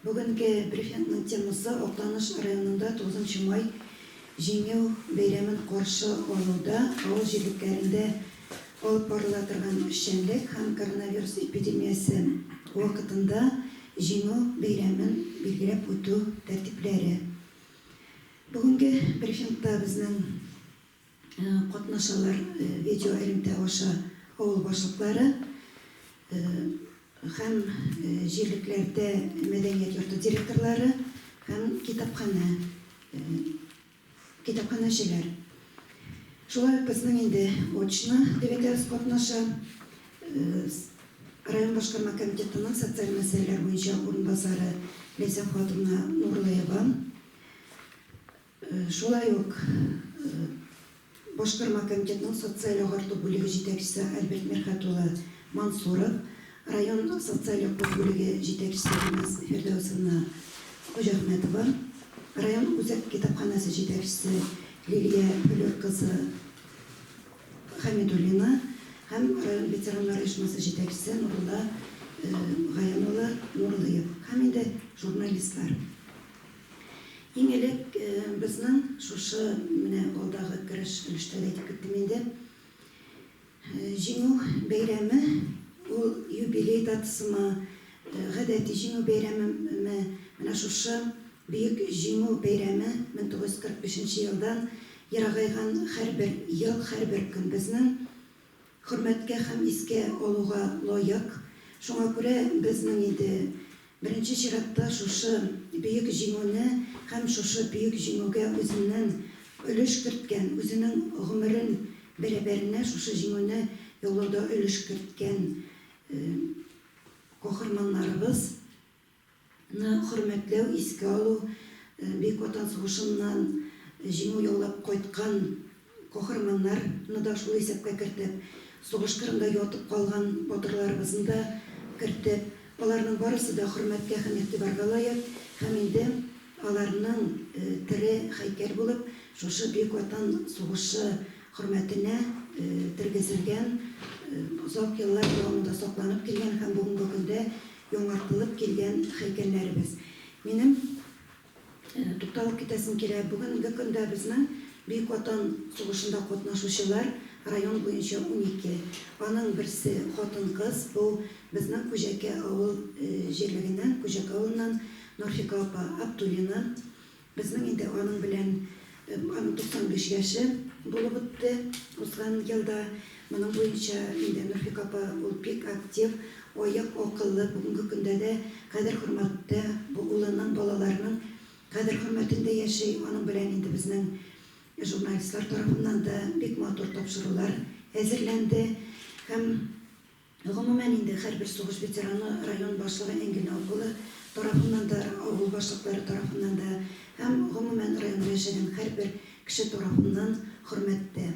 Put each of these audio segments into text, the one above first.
Бүгенге брифингның темасы, Актаныш районында тугызынчы май Җиңү бәйрәмен каршы алуда авыл җирлекләрендә алып барыла торган эшчәнлек һәм коронавирус эпидемиясе вакытында Җиңү бәйрәмен билгеләп үтү тәртипләре. Бүгенге брифингта безнең. Катнашалар видео элемтә аша авыл башлыклары һәм җирлекләрдә мәдәният йорты директорлары һәм китапханә китапханәчеләр. Шулай ук безнең инде очно төбәкләребез катнаша. Район башкарма комитетының социаль мәсьәләләр буенча урынбасары Ләйсән хатыны Нурлыева, Шулай ук Башкарма комитетның социаль-агарту бүлеге җитәкчесе Альберт Мирхәт улы Мансуров, район социаль-яклау бүлеге җитәкчесе Гөлназ Фирдәүсовна Хуҗахмәтова, район үзәк китапханәсе җитәкчесе Лилия Флүр кызы Хәмидуллина һәм район ветераннар оешмасы җитәкчесе Нурулла Гаян улы Нурлыев һәм инде журналистлар. Иң элек безнең шушы менә алдагы кереш өлештә дә әйтеп киттем инде, Җиңү бәйрәме ул юбилей датасымы, гадәти Җиңү бәйрәмеме, менә шушы Бөек Җиңү бәйрәме 1945 нче елдан ерагайган һәрбер ел, һәрбер көн безнең Хөрмәткә һәм искә алуга лаек. Шуңа күрә безнең инде беренче чиратта шушы Бөек Җиңүне һәм шушы Бөек Җиңүгә үзеннән өлеш керткән, үзенең гомерен бәрабәренә шушы Җиңүне яулауда өлеш керткән каһарманнарыбыз, Ны хөрмәтләү, искә алу, Бөек Ватан сугышыннан җиңү яулап кайткан каһарманнар ны да шул исәпкә кертеп, сугыш кырында ятып калган батырларыбызны да кертеп, аларның барысы да хөрмәткә һәм игътибарга лаек һәм инде аларның тере һәйкәл булып шушы Бөек Ватан сугышы хөрмәтенә тергезелгән, озак еллар дәвамында сакланып килгән һәм бүгенге көндә Яңартылып килгән һәйкәлләребез. Минем тукталып китәсем килә, бүгенге көндә безнең Бөек Ватан сугышында катнашучылар район буенча унике. Аның берсе хатын-кыз, бу безнең Күҗәкә авыл җирлегеннән, Күҗәк авылыннан Нурфика апа Абдуллина. Безнең инде аның белән, аның 95 яше булып үтте узган елда. Моның буенча инде Нурфик апа, ул бик актив, аек, акыллы, бүгенге көндә дә кадер-хөрмәттә, бу улының, балаларының кадер-хөрмәтендә яши. Аның белән инде безнең журналистлар тарафыннан да бик матур тапшырулар әзерләнде һәм. Гомумән инде һәрбер сугыш ветераны район башлыгы Энгель авылы тарафыннан да, авыл башлыклары тарафыннан да һәм гомумән районда яшәгән һәрбер кеше тарафыннан хөрмәттә.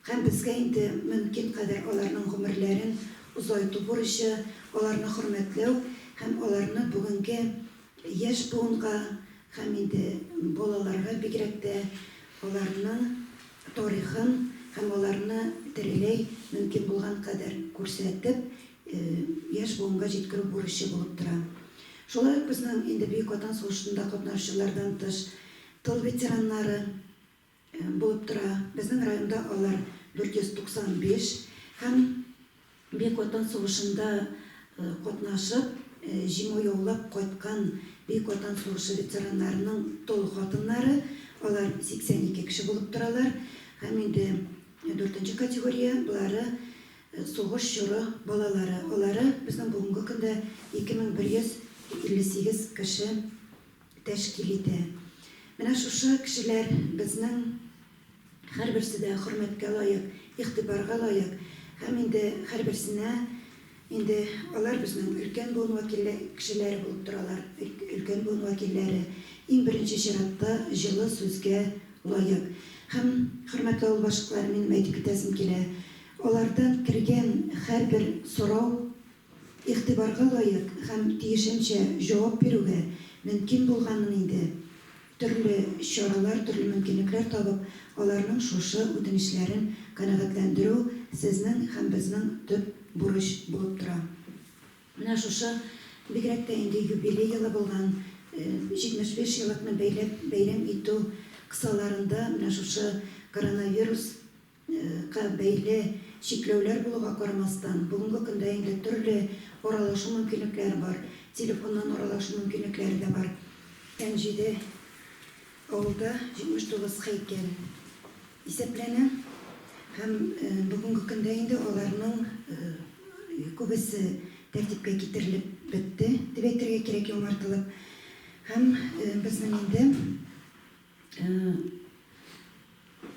Һәм безгә инде мөмкин кадәр аларның гомерләрен озайту бурычы, аларны хөрмәтләү һәм аларны бүгенге яшь буынга Һәм инде балаларга бигрәк тә аларның тарихын һәм аларны тереләй мөмкин булган кадәр күрсәтеп, яшь буынга җиткерү бурычы булып тора. Шулай ук безнең инде Бөек Ватан сугышында катнашучылардан тыш, тыл ветераннары, Булып тора. Безнең районда алар 495 һәм Бөек Ватан сугышында катнашып, җиңү яулап кайткан Бөек Ватан сугышы ветераннарының тол хатыннары, алар 82 кеше булып торалар. Һәм инде дүртенче категория, болары сугыш чоры балалары. Алары безнең бүгенге көндә 2158 кеше тәшкил итә. Менә шушы кешеләр безнең һәрберсе дә хөрмәткә лаек, игътибарга лаек һәм инде һәрберсенә инде алар безнең өлкән буын вәкиллә кешеләре булып торалар, өлкән буын вәкилләре иң беренче чиратта җылы сүзгә лаек. Һәм, хөрмәтле авыл башлыклары, минем әйтеп китәсем килә, алардан кергән һәрбер сорау Игътибарга лаек һәм тиешенчә җавап бирүгә мөмкин булганмын инде. Төрле чаралар, төрле мөмкинлекләр табып, аларның шушы үтенечләрен канәгатьләндерү сезнең һәм безнең төп бурыч булып тора. Менә шушы, бигрәк тә инде юбилей елы булган, 75 еллыкны бәйләп бәйрәм итү кысаларында, менә шушы коронавирус, Га бәйле чикләүләр булуга карамастан, бүгенге көндә инде төрле аралашу мөмкинлекләре бар, телефоннан аралашу мөмкинлекләре дә бар. Әнҗиде авылда 79 һәйкәл исәпләнә һәм бүгенге көндә инде аларның күбесе тәртипкә китерелеп бетте, дип әйтергә кирәк, яңартылып. Һәм безнең инде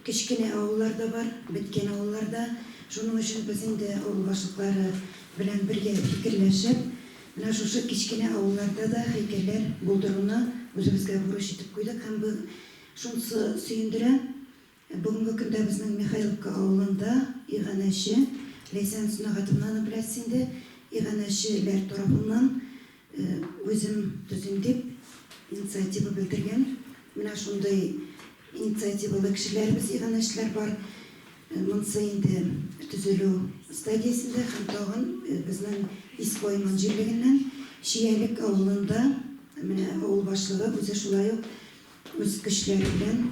Кечкенә авыллар да бар, беткән авыллар да. Шуның өчен без инде авыл башлыклары белән бергә фикерләшеп, менә шушы кечкенә авылларда да һәйкәлләр булдыруны үзебезгә бурыч итеп куйдык һәм бу шунсы сөендерә, бүгенге көндә безнең Михайловка авылында иганәче, Ләйсән Сөнәгатовнаны беләсез инде, иганәче ләр тарафыннан Үзем төзим дип инициатива белдергән менә шундый инициативалы кешеләребез, иганәчеләр бар. Монсы инде төзелү стадиясендә һәм тагын безнең Иско иман җирлегеннән Чиялек авылында менә авыл башлыгы үзе шулай ук үз көчләре белән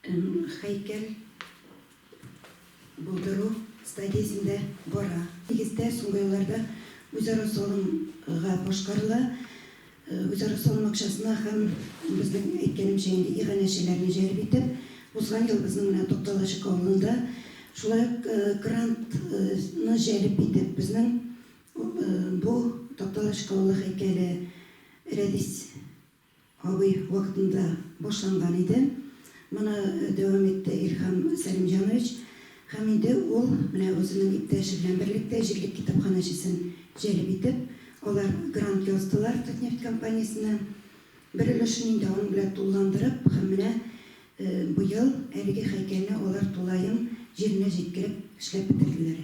Һәйкәл булдыру стадиясендә бара. Нигездә, соңгы елларда үзара салымга башкарыла. Үзара салым акчасына һәм, безнең әйткәнемчә инде, иганәчеләрне җәлеп итеп, узган ел безнең менә Тукталачык авылында шулай ук грантны җәлеп итеп, безнең бу Тукталачык авылы һәйкәле Рәдис Абый вакытында башланган иде. Моны дәвам итте Илһам Сәлимҗанович. Һәм инде ул менә үзенең иптәше белән берлектә җирлек китапханәчесен җәлеп итеп, алар грант яздылар Татнефть компаниясенә. Бер өлешен инде аның белән тулыландырып һәм менә быел әлеге һәйкәлне алар тулаем җиренә җиткереп эшләп бетерделәр.